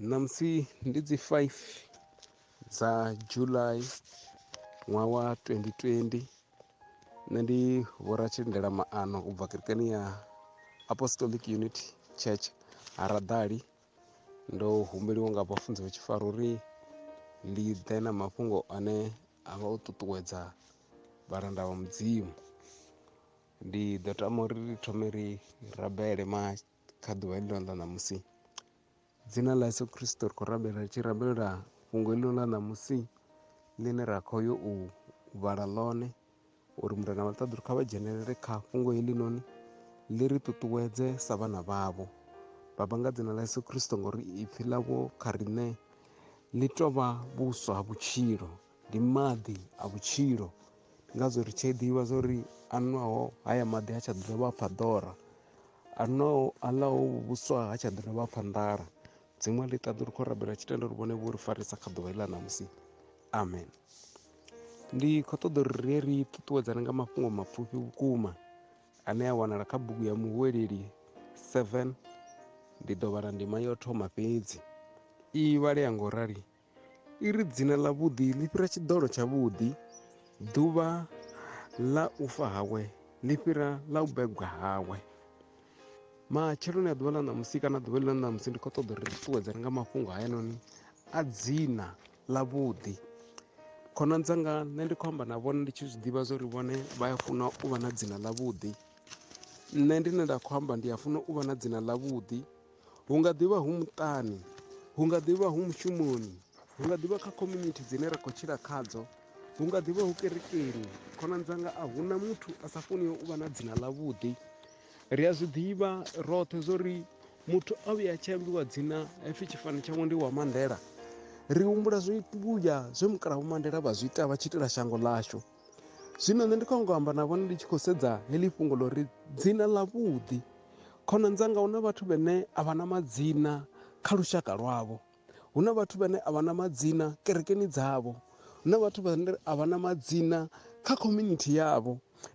Ṋamusi ndi dzi 5 dza July ṅwaha wa 2020 nṋe ndi vhoratshilindela maano u bva kerekeni ya Apostolic Unity Church Haradali ndo humbeliwa nga vhafunzi vha tshifaro uri ndi ḓe na mafhungo ane a vha o ṱuṱuwedza vhalanda vha mudzimu ndi ḓo tama uri ri thome ri rabele ma kha ḓuvha heḽi ḽa ṋamusi dzina ḽa yesu kristo ri khou rabela ri tshi rabelela fhungo heḽi ḽa ṋamusi ḽine ra khou yo u vhala ḽone uri murena vha ṱaḓulu kha vha dzhenelele kha fhungo heḽi noni ḽi ri ṱuṱuwedze sa vhana vhavho baba nga dzina ḽa yesu kristo ngori ipfhi ḽavho kha riṋe ḽi tovha vhuswa ha vhutshilo ndi maḓi a vhutshilo ndi ngazwo ri tshi ḓivha zwa uri a nwaho haya maḓi ha tsha dovha pfa ḓora a nwaho a ḽaho vhuswa ha tsha ḓi dovha pfa nḓala dziṅwe ḽi ṱaḓo ri khou rabela tshitendo ri vhone vho ri farisa kha ḓuvha iḽa ṋamusi amen ndi khou ṱoḓa uri rie ri ṱuṱuwedzane nga mafhungo mapfufhi vhukuma ane a wanala kha bugu ya muhuweleli 7 ndi ḓo vhala ndima yo thoma fhedzi i vhalea ngo rali I ri dzina ḽavhuḓi ḽi fhira tshiḓolo tshavhuḓi, ḓuvha ḽa u fa hawe ḽi fhira ḽa u begwa hawe. Matsheloni a ḓuvha ḽa ṋamusi kana ḓuvha ḽa ṋamusi ndi khou ṱoḓa uri ṱuṱuwedzane nga mafhungo hayanoni a dzina ḽavhuḓi khonani dzanga nṋe ndi khou amba na vhone ndi tshi zwi ḓivha zwa uri vhone vha ya funa u vha na dzina ḽavhuḓi nṋe ndine nda khou amba ndi a funa u vha na dzina ḽavhuḓi hu nga ḓivha hu muṱani hu nga ḓivha hu mushumoni hu nga ḓivha kha community dzine ra khou tshila khadzo hu nga ḓivha hu kerekeni khonani dzanga a hu na muthu a sa funiho u vha na dzina ḽavhuḓi ri a zwi ḓivha roṱhe zwo ri muthu a vhuya a tshi ambiwa dzina hapfi tshifani tshawe ndi wa mandela ri humbula zwivhuya zwe mukalaha vho mandela vha zwi ita vha tshi itela shango ḽashu Zwino nṋe ndi khou ngo amba na vhone ndi tshi khou sedza heḽi fhungo ḽo ri dzina ḽa vhuḓi khonani dzanga hu na vhathu vhane a vha na madzina kha lushaka lwavho hu na vhathu vhane a vha na madzina kerekeni dzavho hu na vhathu vhane a vha na madzina kha community yavho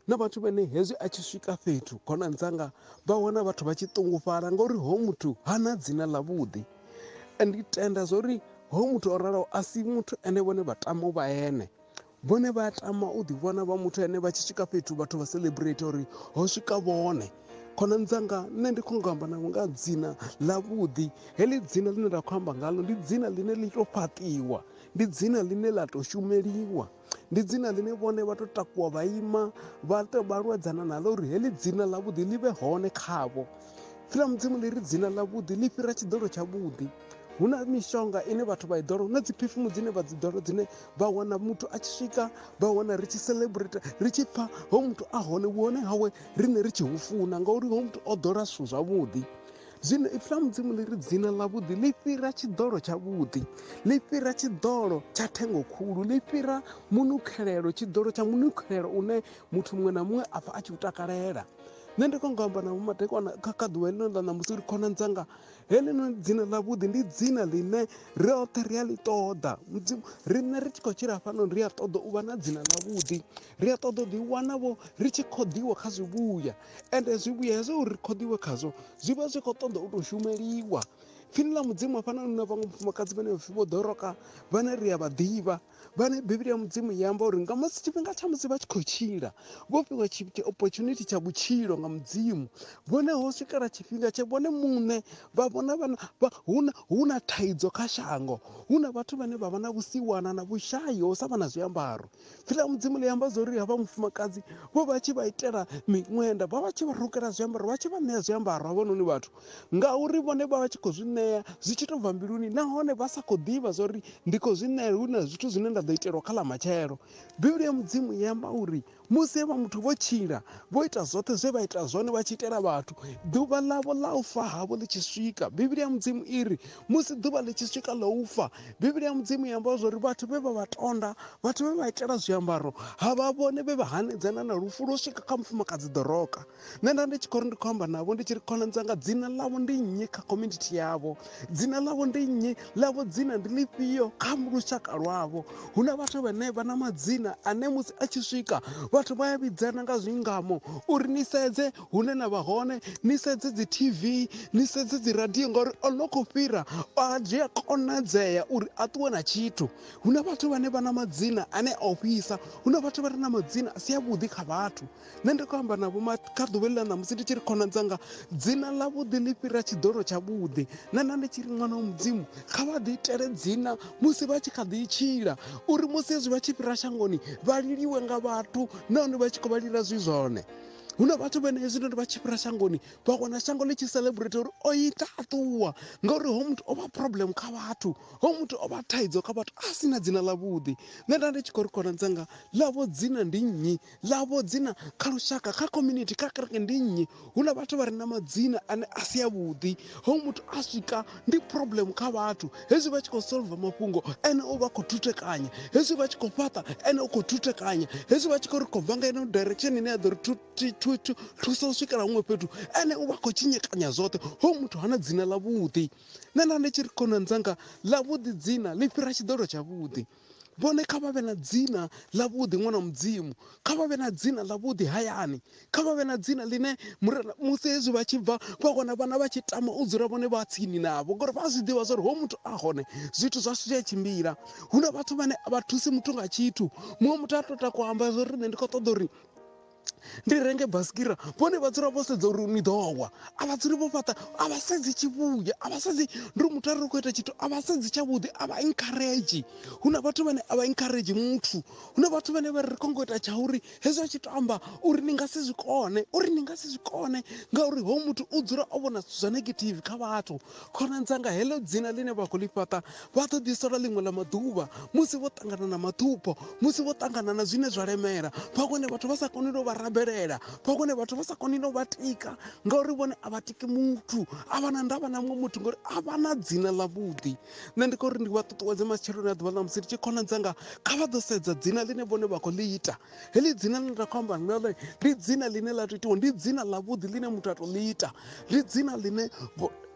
na vhathu vhane hezwi a tshi swika fhethu khonani dzanga vha wana vhathu vha tshi ṱungufhala ngauri ho muthu ha na dzina ḽa vhuḓi ndi tenda zwa uri ho muthu o raloho a si muthu ene vhone vha tama u vha ene Vhone vha a tama u ḓivhona vha muthu ane vha tshi swika fhethu vhathu vha celebrate uri ho swika vhone khonani dzanga nṋe ndi khou nga amba navho nga dzina ḽavhuḓi heḽi dzina ḽine nda khou amba ngalo ndi dzina ḽine ḽi tou fhaṱiwa ndi dzina ḽine ḽa tou shumeliwa ndi dzina ḽine vhone vha tou takuwa vha ima vha tou vha lwedzana naḽo uri heḽi dzina ḽavhuḓi ḽi vhe hone khavho fhira mudzimu ḽi ri dzina ḽavhuḓi ḽi fhira tshiḓolo tshavhuḓi hu na mishonga ine vhathu vha i ḓola hu na dzi phifumu dzine vha dzi ḓola dzine vha wana muthu a tshi swika vha wana ri tshi celebrate ri tshi pfha ho muthu a hone vhuhone hawe riṋe ri tshi hu funa ngauri ho muthu o ḓola zwithu zwavhuḓi zwino ipfi ḽa mudzimu ḽi ri dzina ḽavhuḓi ḽi fhira tshiḓolo tshavhuḓi ḽi fhira tshiḓolo tsha thengo khulu ḽi fhira munukhelelo tshiḓolo tsha munukhelelo une muthu muṅwe na muṅwe a pfha a tshi u takalela nṋe ndi kho nga amba na vhomadekwana kha kha ḓuvha ḽino ḽa ṋamusi uri khonani dzanga heḽino dzina ḽavhuḓi ndi dzina ḽine roṱhe ri a ḽi ṱoḓa mudzimu riṋe ri tshi khou tshila fhano ri a ṱoḓa u vha na dzina ḽavhuḓi ri a ṱoḓa u ḓiwana vho ri tshi khoḓiwa kha zwivhuya ende zwivhuya hezwo uri ri khoḓiwe khazwo zwi vha zwi khou ṱoḓa u tou shumeliwa pfini ḽa mudzimu hafhanoni na vhaṅwe mufumakadzi vhane vhapfi vho ḓoroka vhane ri a vha ḓivha vhane bivhili ya mudzimu i amba uri nga musi tshifhinga tsha musi vha tshi khou tshila vho fhiwa opportunity tsha vhutshilo nga mudzimu vhone ho swikela tshifhinga tshe vhone muṋe vha vhona vhana hu na thaidzo kha shango hu na vhathu vhane vha vha na vhusiwana na vhushayi ho sa vha na zwiambaro pfila mudzimu ḽi amba zwa uri havha mufumakadzi vho vha tshi vha itela miṅwenda vha vha tshi vha rukela zwiambaro vha tshi vha ṋea zwiambaro havhanoni vhathu ngauri vhone vha vha tshi khou zwi ṋea zwi tshi tou bva mbiluni nahone vha sa khou ḓivha zwa uri ndi khou zwi ṋea hu na zwithu zwine nda ḓo itelwa kha ḽa matshelo bivhili ya mudzimu i amba uri musi vha muthu vho tshila vho ita zwoṱhe zwe vha ita zwone vha tshi itela vhathu ḓuvha ḽavho ḽa u fa havho ḽi tshi swika bivhili ya mudzimu i ri musi ḓuvha ḽi tshi swika ḽa u fa bivhili ya mudzimu i amba zwa uri vhathu vhe vha vha tonda vhathu vhe vha itela zwiambaro ha vha vhone vhe vha hanedzana na lufu lwo swika kha mufumakadzi ḓoroka nṋe nda ndi tshi khou ri ndi khou amba navho ndi tshi ri khonani dzanga dzina ḽavho ndi nnyi kha community yavho dzina ḽavho ndi nnyi ḽavho dzina ndi ḽifhio kha lushaka lwavho hu na vhathu vhane vha na madzina ane musi a tshi swika vhathu vha ya vhidzana nga zwingamo uri ni sedze hune na vha hone ni sedze dzi tv ni sedze dzi radio ngauri o no khou fhira a zwi a konadzea uri a ṱuwe na tshithu hu na vhathu vhane vha na madzina ane a ofhisa hu na vhathu vha re na madzina a si avhuḓi kha vhathu nṋe ndi khou amba na vhoma kha ḓuvheli ḽa ṋamusi ndi tshi ri khona dzanga dzina ḽa vhuḓi ḽi fhira tshiḓolo tsha vhuḓi na na ndi tshi ri ṅwana wa mudzimu kha vha ḓi itele dzina musi vha tshi kha ḓi tshila uri musi hezwi vha tshi fhira shangoni vha liliwe nga vhathu nahone vha tshi khou vha lila zwi zwone hu na vhathu vhene hezwi noni vha tshi fhira shangoni vha wana shango ḽi tshi celebrate uri o ita a ṱuwa ngauri ho muthu o vha problem kha vhathu ho muthu o vha thaidzo kha vhathu a si na dzina ḽa vhuḓi nṋe nda ndi tshi khou ri khona dzanga ḽavho dzina ndi nnyi ḽavho dzina kha lushaka kha community kha kereke ndi nnyi hula vhathu vha re na madzina ane a si avhuḓi hoyu muthu a swika ndi problem kha vhathu hezwi vha tshi khou solva mafhungo ene u vha khou thuthekanya hezwi vha tshi khou fhaṱa ene u khou thuthekanya hezwi vha tshi khou ri khou bva nga ino direction ine ya ḓo ri thusa u swikela huṅwe fhethu ene u vha khou tshinyekanya zwoṱhe hoyu muthu hana dzina ḽavhuḓi nṋe nda ndi tshi ri khonani dzanga ḽavhuḓi dzina ḽi fhira tshiḓolo tshavhuḓi vhone kha vha vhe na dzina ḽavhuḓi ṅwana mudzimu kha vha vhe na dzina ḽavhuḓi hayani kha vha vhe na dzina ḽine murena musi hezwi vha tshi bva vha wana vhana vha tshi tama u dzula vhone vha tsini navho ngori vha a zwi ḓivha zwori ho muthu a hone zwithu zwashu zwi a tshimbila hu na vhathu vhane a vha thusi muthu nga tshithu muṅwe muthu a to takwa amba zwori nṋe ndi khou ṱoḓa uri ndi renge basikira vhone vha dzula vho sedza uri ni ḓo wa a vha dzuli vho fhaṱa a vha sedzi tshivhuya a vha sedzi ndi ri muthu a ri khou ita tshithu a vha sedzi tshavhuḓi a vha encourage hu na vhathu vhane a vha encourage muthu hu na vhathu vhane vha ri kongo ita tsha uri hezwi a tshi to amba uri ni nga si zwi kone uri ni nga si zwi kone ngauri hoyu muthu u dzula o vhona zwithu zwa negative kha vhathu Khonani dzanga, heḽo dzina ḽine vha khou ḽi fhaṱa vha ḓo ḓi sola ḽiṅwe ḽa maḓuvha musi vho ṱangana na maṱhupho, musi vho ṱangana na zwine zwa lemela, vha vhone vhathu vha sa koni no vha rabelela, vha vhone vhathu vha sa koni no vha tika, ngauri vhone a vha tiki muthu, a vha na ndavha na muṅwe muthu ngori a vha na dzina ḽavhuḓi. Nṋe ndi khou ri ndi vha ṱuṱuwedze matsheloni a ḓuvha ḽa musi ndi tshi khonani dzanga, kha vha ḓo sedza dzina ḽine vhone vha khou ḽi ita. Heḽi dzina ḽine nda khou amba nga ḽe ndi dzina ḽine ḽa to itiwa ndi dzina ḽa vhuḓi ḽine muthu a to ḽi ita ndi dzina ḽine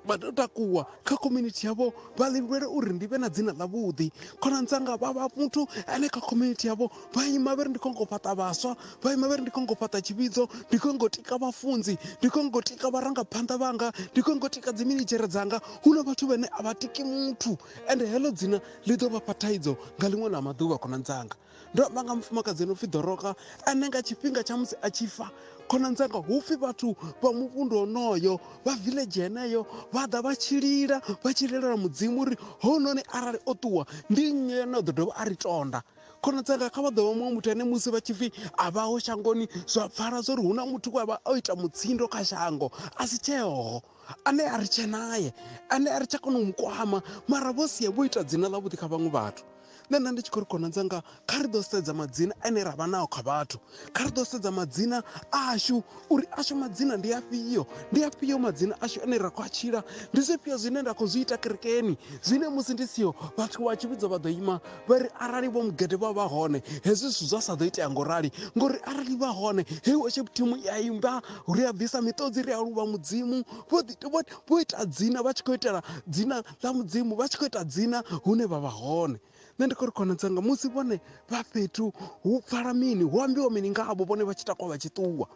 vha to takuwa kha community yavho vha ḽi lwela uri ndi vhe na dzina ḽa vhuḓi khonani dzanga vha vha muthu ane kha community yavho vha ima vhe ri ndi khou ngo fhaṱa vhaswa vha ima vhe ri ndi khou ngo fhaṱa tshivhidzo ndi khou ngo tika vhafunzi ndi khou ngo tika vharangaphanḓa vhanga ndi khou ngo tika dzi minitshera dzanga hu na vhathu vhane a vha tiki muthu ende heḽo dzina ḽi ḓo vha fha thaidzo nga ḽiṅwe ḽa maḓuvha khonani dzanga Ndo amba nga mufumakadzi ane upfi Doroka ane nga tshifhinga tsha musi a tshi fa khonani dzanga hupfi vhathu vha muvhundu onoyo vha village heneyo vha ḓa vha tshi lila vha tshi lilela mudzimu uri hounoni arali o ṱuwa ndi nnyi ane a ḓo dovha a ri tonda khona dzanga kha vha ḓo vha muṅwe muthu ane musi vha tshi pfi a vhaho shangoni zwa pfala zwa uri hu na muthu we a vha o ita mutsindo kha shango a si tsheho ane a ri tshe naye ane a ri tsha kona u mu kwama mara vho sia vho ita dzina ḽavhuḓi kha vhaṅwe vhathu nṋe nda ndi tshi khou ri khonanza nga kha ri ḓo sedza madzina ane ra vha nao kha vhathu kha ri ḓo sedza madzina ashu uri ashu madzina ndi afhio ndi afhio madzina ashu ane ra khou a tshila ndi zwifhio zwine nda khou zwi ita kerekeni zwine musi ndi siho vhathu vha tshivhidzo vha ḓo ima vha ri arali vho mugede vha vha hone hezwi zwithu zwa sa ḓo itea ngo rali ngori arali vha hone hei worship team i a imba ri a bvisa miṱodzi ri a luvha mudzimu vho ḓi- vho- vho ita dzina vha tshi khou itela dzina ḽa mudzimu vha tshi khou ita dzina hune vha vha hone nṋe ndi khou ri khonadzanga musi vhone vha fhethu hu pfala mini hu ambiwa mini ngavho vhone vha tshi takuwa vha tshi ṱuwa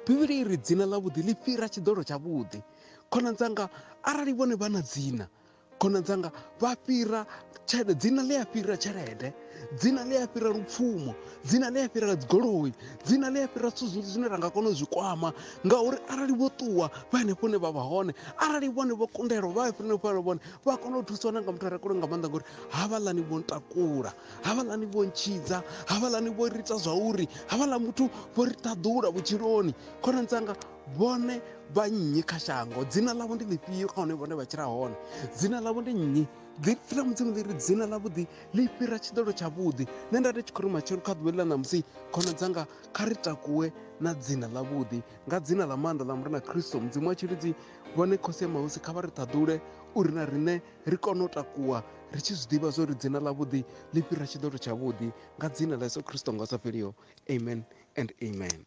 bivhili i ri dzina ḽavhuḓi ḽi fhira tshiḓolo tshavhuḓi khonadzanga arali vhone vha na dzina Khonani dzanga vha fhira tshelede dzina ḽi a fhira tshelede dzina ḽi a fhira lupfumo dzina ḽi a fhira dzigoloi dzina ḽi a fhira zwithu zwinzhi zwine ra nga kona u zwi kwama ngauri arali vho ṱuwa vha henefho hune vha vha hone arali vhone vho kundelwa vha henefho hone vhone vha kona u thusiwa na nga muthu a re kule nga maanḓa ngori havhaḽani vho ntakula havhaḽani vho ntshidza havhaḽani vho ri ita zwa uri havhaḽa muthu vho ri ṱaḓula vhutshiloni khonani dzanga vhone vha nnyi kha shango dzina ḽavho ndi ḽifhio kha hone vhone vha tshila hone dzina ḽavho ndi nnyi fhira mudzimu ḽi ri dzina ḽavhuḓi ḽi fhira tshiḓolo tshavhuḓi nṋe nda ndi tshi khou ri matshelo kha ḓuvha ḽi ḽa ṋamusi khona dzanga kha ri takuwe na dzina ḽavhuḓi nga dzina ḽa maanḓa ḽa murena khristo mudzimu wa tshilidzi vhone khosi ya mahosi kha vha ri ṱhaḓule uri na riṋe ri kone u takuwa ri tshi zwi ḓivha zwo ri dzina ḽavhuḓi ḽi fhira tshiḓolo tshavhuḓi nga dzina ḽa yesu khristo nga sa fheliho amen and amen